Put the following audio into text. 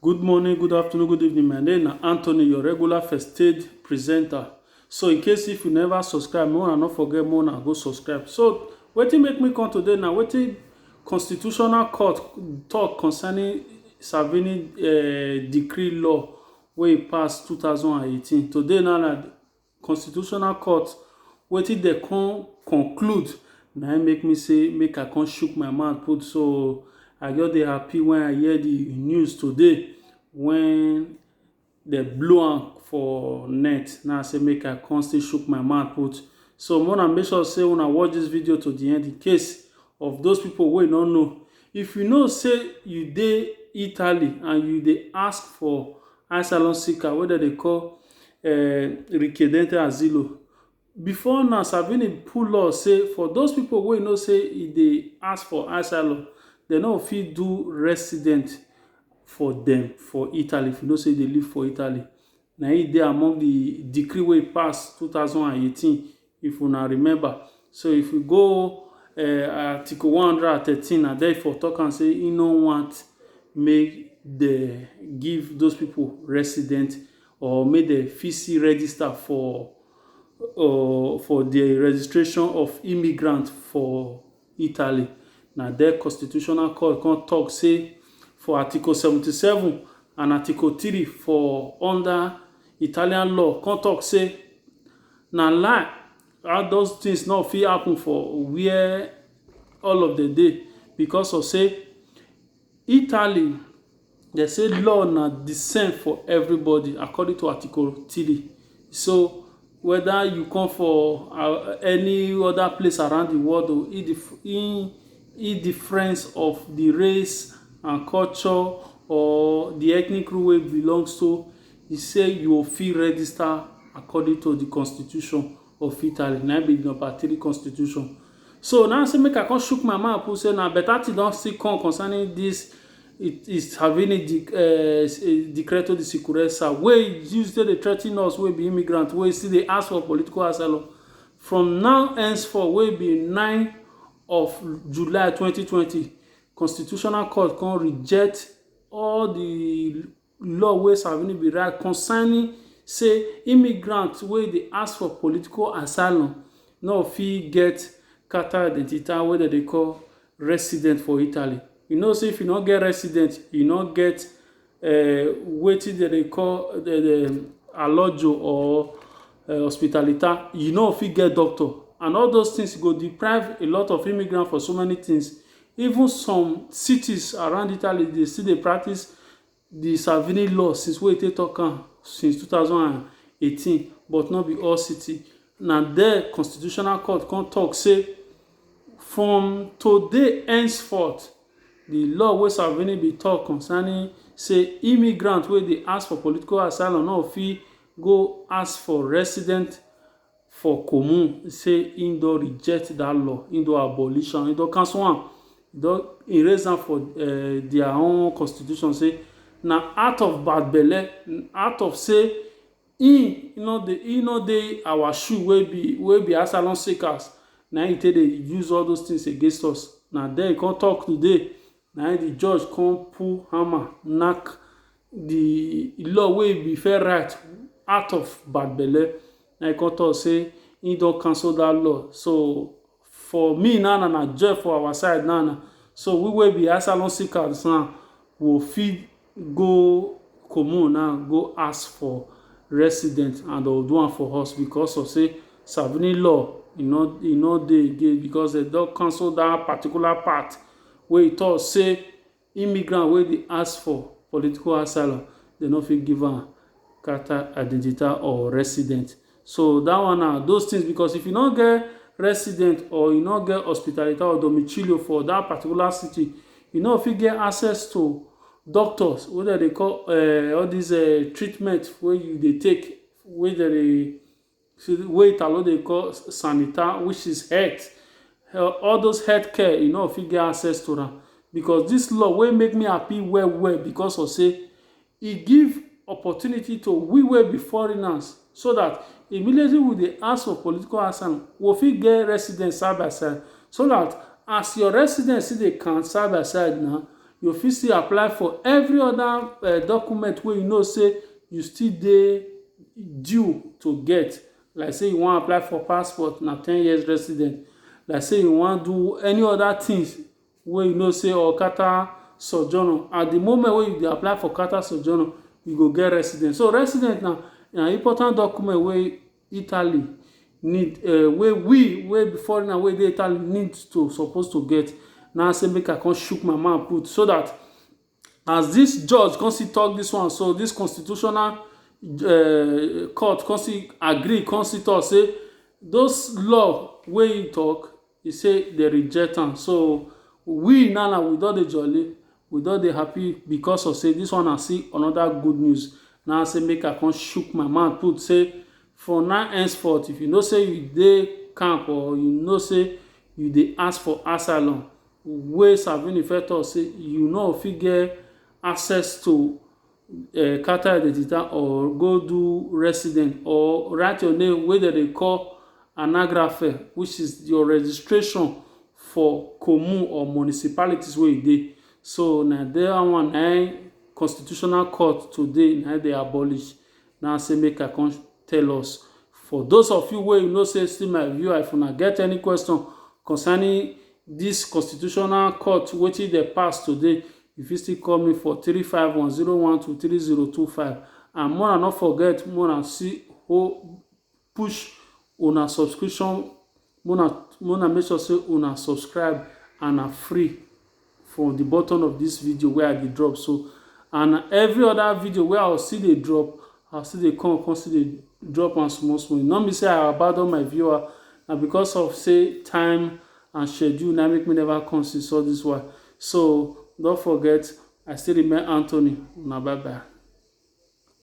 Good morning, good afternoon, good evening. My name na Anthony, your regular first aid presenter. So in case if you never subscribe, make una no forget make una go subscribe. So wetin make me come today na wetin constitutional court talk concerning Savini uh, decree law wey e pass 2018. Today na na constitutional court wetin dem come conclude na im make me say make I come shook my mouth put so I just dey happy when I hear the news today when dem blow am for net na I say make I come still shook my mouth put so una make sure say una watch this video to the end in case of those people wey no know if you know say you dey Italy and you dey ask for asylum seeker wey dem dey call um Rikiedente Azilo. Before now, Salvini put law say for those pipu wey e know say e dey ask for asylum, de no go fit do resident for dem for Italy, if you know say you dey live for Italy. Na im e dey among the decree wey e pass two thousand and eighteen. If una remember, so if you go um Article one hundred and thirteen, na there e for talk am say he no want make dem give those people resident or make dem fit see register for um for the registration of immigrant for Italy. Na there constitutional court come talk say for Article seventy seven and Article three for under Italian law come talk say Na lie all those things no fit happen for where all of dem dey because of say Italy dem say law na the same for everybody according to article three so whether you come for any other place around the world o indifference of the race and culture or the ethnic group wey you belong to He say you o fit register according to the constitution of Italy, na be the number three constitution. So now say make I come shook my mouth put say na better thing don still come concerning this it is having a dec uh, decreto di sicurezza wey use take dey threaten us wey be immigrant wey still dey ask for political asylum from now henceforth wey be nine of July twenty twenty constitutional court come reject all the law wey Salvini bin write concerning say immigrants wey dey ask for political asylum no fit get carta d'identità wey dem dey call resident for Italy. You know say if you no get resident, you no get um wetin dem dey call um alloggio or um ospitalità, you no fit get doctor and all those tins go deprive a lot of immigrants for so many tins. Even some cities around Italy dey still dey practice di Salvini law since wey e take tok am since two thousand and eighteen but no be all city. Na there Constitutional Court come tok say from today henceforth di law wey Salvini bin tok concerning say immigrants wey dey ask for political asylum no go fit go ask for resident for common say im don reject dat law, im don abolish am, im don cancel am, im don erase am for um dia own constitution say na out of bad belle, out of say im no dey im no dey our shoe wey be wey be asylum seekers na im e take dey use all those tins against us. Na den e come tok today Na im di judge kon pull hammer nack di law wey e bin first write out of bad belle, na im e kon tok sey im don cancel dat law. So, for me na, na na joy for awa side na na. So, we wey be asylum seekers na, we go fit go common now go ask for resident and dey will do am for us because of sey savigny law e no e no dey again because dem don cancel dat particular part wey e talk sey immigrant wey dey ask for political asylum dem no fit give am charter identity or resident So that one na those things because if you no get resident or you no get hospitality or domicilio for that particular city, you no fit get access to doctors wey dem dey call uh, all these uh, treatment wey you dey take wey dem dey wey italo dey call sanita which is health all those health care you no fit get access to am because this law wey make me happy well well because of say E give opportunity to we wey be foreigners so dat immediately we dey ask for political asylum, we fit get residence side by side so dat as your residence still dey count side by side na, you fit still apply for every other um document wey you know sey you still dey due to get. Like sey you wan apply for passport, na ten years residence. Like sey you wan do any other things wey you know sey or Carter Sojourner. At de moment wey you dey apply for Carter Sojourner, you go get residence. So residence na na important document wey Italy need um wey we wey be foreigner wey dey Italy need to suppose to get. Na im I say make I come chook my mouth put so dat As dis judge come still talk dis one so, dis constitutional um court come still agree come still talk say those law wey im talk, e say dem reject am. So, we now now we don dey jolly, we don dey happy because of sey dis one na still another good news. Na im say make I come shook my mouth put say from now henceforth, if you know sey you dey camp or you know sey you dey ask for asylum, wey Salvini first tok say you no fit get access to um Carta Identidade or go do residence or write your name wey dem dey call Anagrafe which is your registration for commune or municipalities wey you dey so na dat one na im constitutional court today na im dem abolish Now say make I come tell us for those of you wey you know say still my viewer if una get any question concerning this constitutional court wetin dey pass today you fit still call me for three five one zero one two three zero two five and more and not forget more and see who push una subscription Make una make una make sure say una subscribe and na free from the button of this video wey I dey drop so and every other video wey I will still dey drop I will still dey come come still dey drop am small small e no mean say I abandon my viewer na because of say time and schedule na make me never come since all this while so don't forget I still remain Anthony una bye bye.